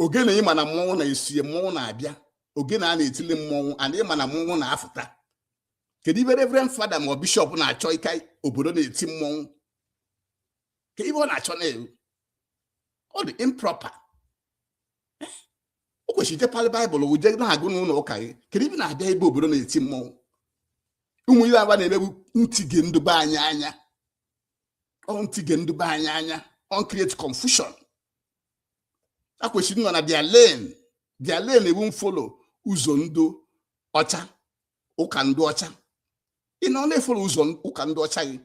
ogene ịma na mmọnwụ na-esie mmọnwụ na-abịa ogene a na-etili mmọnwụ and ịma na mmọnwụ na-afụta kedu ibe reverend father ma ọ bishop na-achọ ika obodo na-eti mmọnwụ ke ibe ọ na-achọ na-ewu ọ dị improper o kwesịrị ije palị baịbụl wụ jee na-agụ n'ụlọ ụka gị kedu ibe na-abịa ebe obodo na-eti mmọnwụ ụmụ ihe a ba na-eme bụ ntige ndụ be anyị anya ọ ntige ndụ be anyị anya ọ ncreate confusion a kwesịrị ịnọ na their lane their lane ewu mfolo ụzọ ndụ ọcha ụka ndụ ọcha ị nọ na-efolo ụzọ ụka ndụ ọcha gị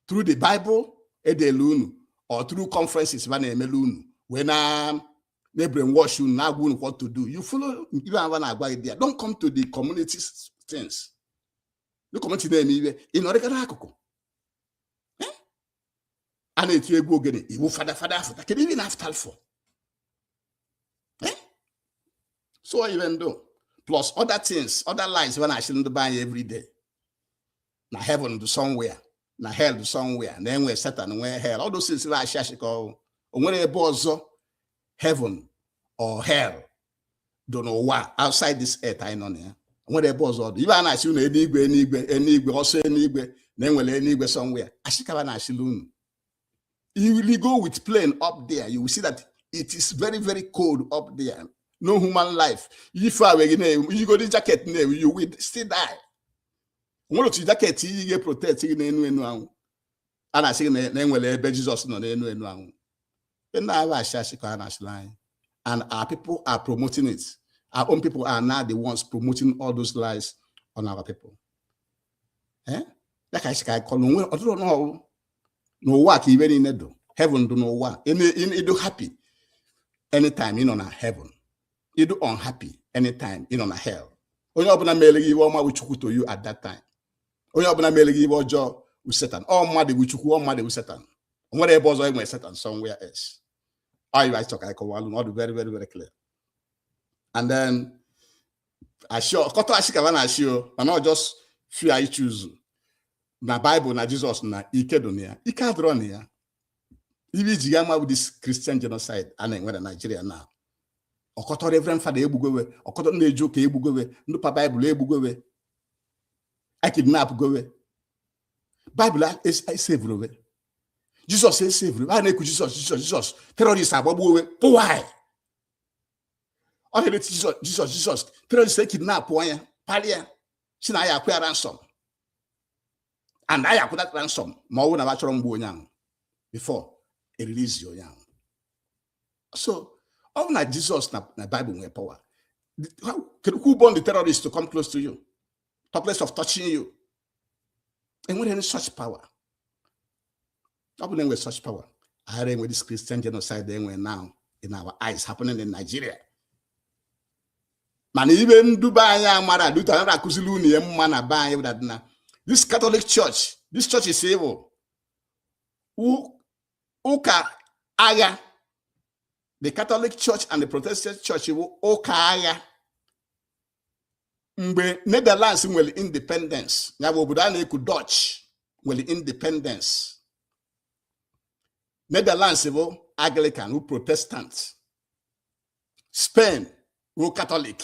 through the Bible e deele unu or through conferences ba na-emele unu wee na na-ebrainwash unu na-agwa unu what to do you follow ibe a ba na-agwa gị there don't come to the community things the community na-eme ibe ị nọrịgara akụkụ a na-eti egwu ogene ị wu fada fada afụta kedu ihe ị na-afụta for eh? so even though plus other things other lies ba na-ashịrị ndụ be anyị every day na heaven dụ somewhere na hell dụ somewhere na e nwe satan nwe hell all those things bụ ashị ashị ka ọ wụ o nwerọ ebe ọzọ heaven or hell dụ n'ụwa outside this earth anyị nọ na ya o nwerọ ebe ọzọ ọ dụ ibe a na-asị unu eluigwe eluigwe eluigwe ọsọ eluigwe na e nwere eluigwe somewhere ashị ka ba na-ashịlụ unu you will go with plane up there you will see that it is very very cold up there no human life even when i yigodi jaket n'ahụ you will still die o nwerọ otu jaket i yi ga-eprotect gị n'enu enu ahụ a na-asị gị na e nwere ebe Jizọs nọ n'elu elu ahụ ndị a wụ asị asị ka a na-asịrị anyị and our people are promoting it our own people are now the ones promoting all those lies on our people eh? ya ka anyị ka anyị kọrọ onwe ọtụtụ n'ọrụ n'ụwa ka ibe niile dụ heaven dụ n'ụwa ị dụ happy anytime ị nọ na heaven ị dụ unhappy anytime ị nọ na hell onye ọbụla mere gị ibe ọma bụ chukwu to you at that time onye ọbụla mere gị ibe ọjọọ wu setan ọ mmadụ wu chukwu ọ mmadụ wu setan o nwerọ ebe ọzọ e nwere setan somewhere else ọ ibe a chọ ka anyị kọwalụ na ọ dị very very very clear and then ashị ọkọtọ ashị ka ba na-ashị o mana ọ just few anyị choose na baịbụl na jizọs na ike dị na ya ike adịrọ na ya ibe i ji ya ama bụ this christian genocide a na-enwe na naijiria na ọkọtọ reverend fada e gbugo we ọkọtọ ndị na-eje ụka e gbugo we ndị pa baịbụl e gbugo we e kidnapụgo we baịbụl esevurọ we jizọs esevurọ we a na-ekwu jizọs jizọs jizọs terọrist agbagbuo we pụwaị ọ na-eti jizọs jizọs jizọs terọrist ekidnapụ onye palịa sị na a ya-akwụ ransom and a ya-akwụ that ransom ma ọ bụrụ na ba achọrọ mgbu onye ahụ before e release onye ahụ so ọ bụ na jizọs na baịbụl nwee power who born the terrorist to come close to you talk less of touching you e nwere any such power ọ bụ na e nwere such power aghara enwe this christian genocide e nwe now in our eyes happening in nigeria mana ive ndụ be anyị amara duta nara akụziri unu ihe mma na be anyị dadina this catholic church this church is evil ụka aya the Catholic Church and the Protestant Church wụ ụka aya mgbe Netherlands nwelu independence ya bụ obodo a na-ekwu Dutch nwelu independence Netherlands wụ Anglican wụ Protestant Spain wụ Catholic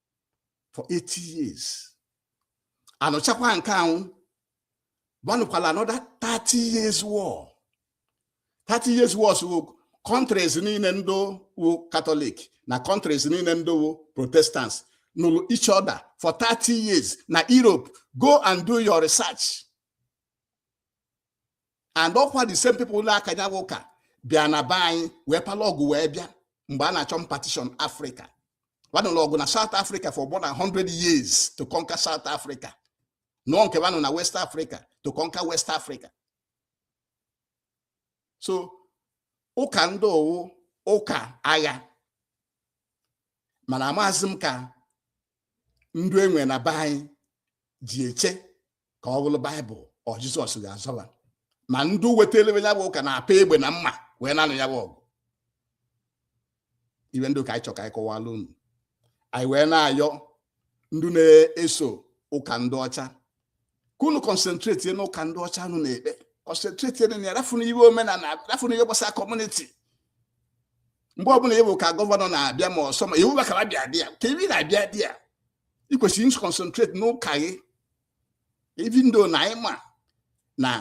for 80 years a nụchakwa nke anwụ ba nụkwala another 30 years war 30 years war so countries niile ndị wụ catholic na countries niile ndị wụ protestants nụlụ each other for 30 years na europe go and do your research and ọ kwa the same people na-aka nya wụ ụka bịa na be anyị wee pala ọgụ wee bịa mgbe a na-achọ partition Africa wa nụlụ ọgụ na South Africa for more than 100 years to conquer South Africa nụọ nke wa nụ na West Africa to conquer West Africa so ụka ndị ọ wụ ụka agha mana amaghịzi m ka ndụ e nwe na be anyị ji eche ka ọ bụrụ baịbụl or jizọs ga-azọ ba ma ndị wetara ya bụ ụka na-apa egbe na mma wee na-anụ ya bụ ọgụ ive ndị ọ ka anyị chọ ka anyị kọwala unu anyị wee na-ayọ ndị na-eso ụka ndị ọcha ka unu concentrate n'ụka ndị ọcha unu na-ekpe concentrate na ya rafụnụ ihe omenala rafụnụ ihe gbasara community mgbe ọ bụla ị vụ ka governor na-abịa ma ọsọ ma iwu bakara bịa dị ya ka ibi na-abịa dị ya ị kwesịrị isi concentrate n'ụka gị even though na anyị ma na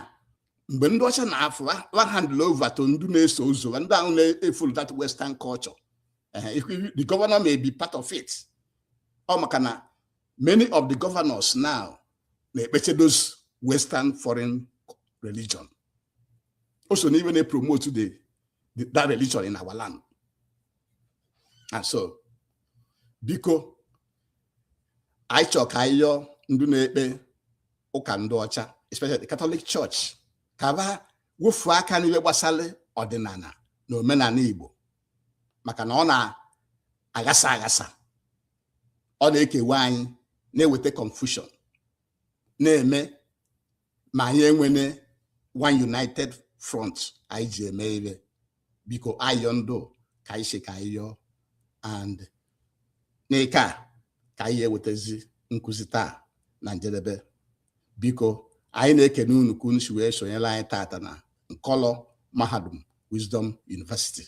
mgbe ndị ọcha na-afụ wa handlụ over to ndị na-eso ụzọ ndị ahụ na-efollow that western culture the governor may be part of it ọ maka na many of the governors now na-ekpeche those western foreign religion o so n'ive na-epromote that religion in our land and so biko anyị chọ ka anyị yọọ ndị na-ekpe ụka ndị ọcha especially the Catholic Church ka ba wofu aka n'ihe gbasara ọdịnala na omenala Igbo maka na ọ na-aghasa aghasa ọ na-ekewa anyị na-eweta confusion na-eme ma anyị enwene one united front anyị ji eme ihe biko ayọ ndụ ka anyị si ka anyị yọọ and nke a ka anyị ji ewetazi nkụzi taa na njedebe biko anyị na-ekene unu ka unu si wee sonyere anyị tata na nkọlọ mahadum wisdom university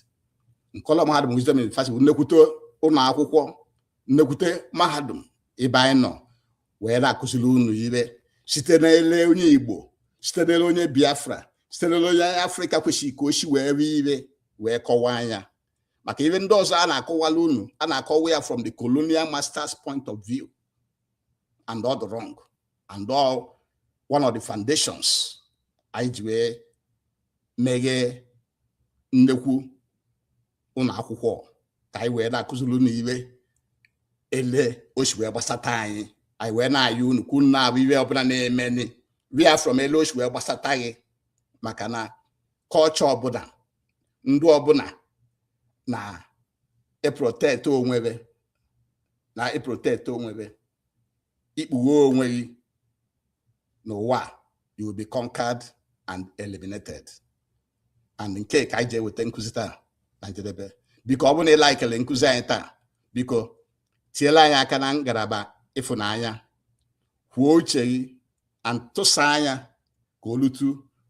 nkọlọ mahadum wisdom university bụ nnekwute ụlọ akwụkwọ nnekwute mahadum ebe anyị nọ wee na-akụziri unu ihe site n'ele onye igbo site n'ele onye biafra site n'ele onye afrịka kwesịrị ka o si wee hụ ihe wee kọwaa nya maka ihe ndị ọzọ a na-akọwala unu a na-akọwa ya from the colonial masters point of view and ọ dị wrong and ọ one of the foundations anyị ji wee meghee nnekwu ụlọ akwụkwọ ka anyị wee na-akụziri unu ihe ele o si wee gbasata anyị anyị wee na-ayọ unu ka unu na-ahụ ihe ọbụla na-emeni hụ ya from ele o si wee gbasata gị maka na culture ọbụla ndụ ọbụla na-eprotect onwe ve na-eprotect onwe ve i kpughee onwe gị n'ụwa you will be conquered and eliminated and nke a ka anyị ji eweta nkụzi taa na njedebe biko ọ bụrụ na ị likele nkụzi anyị taa biko tiela anyị aka na ngalaba ịfụnanya kwuo uche gị and tụsaa nya ka o lute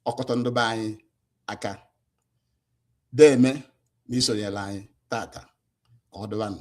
ọkọtọ ndị be anyị aka deeme na i sonyela anyị tata ka ọ dịbanụ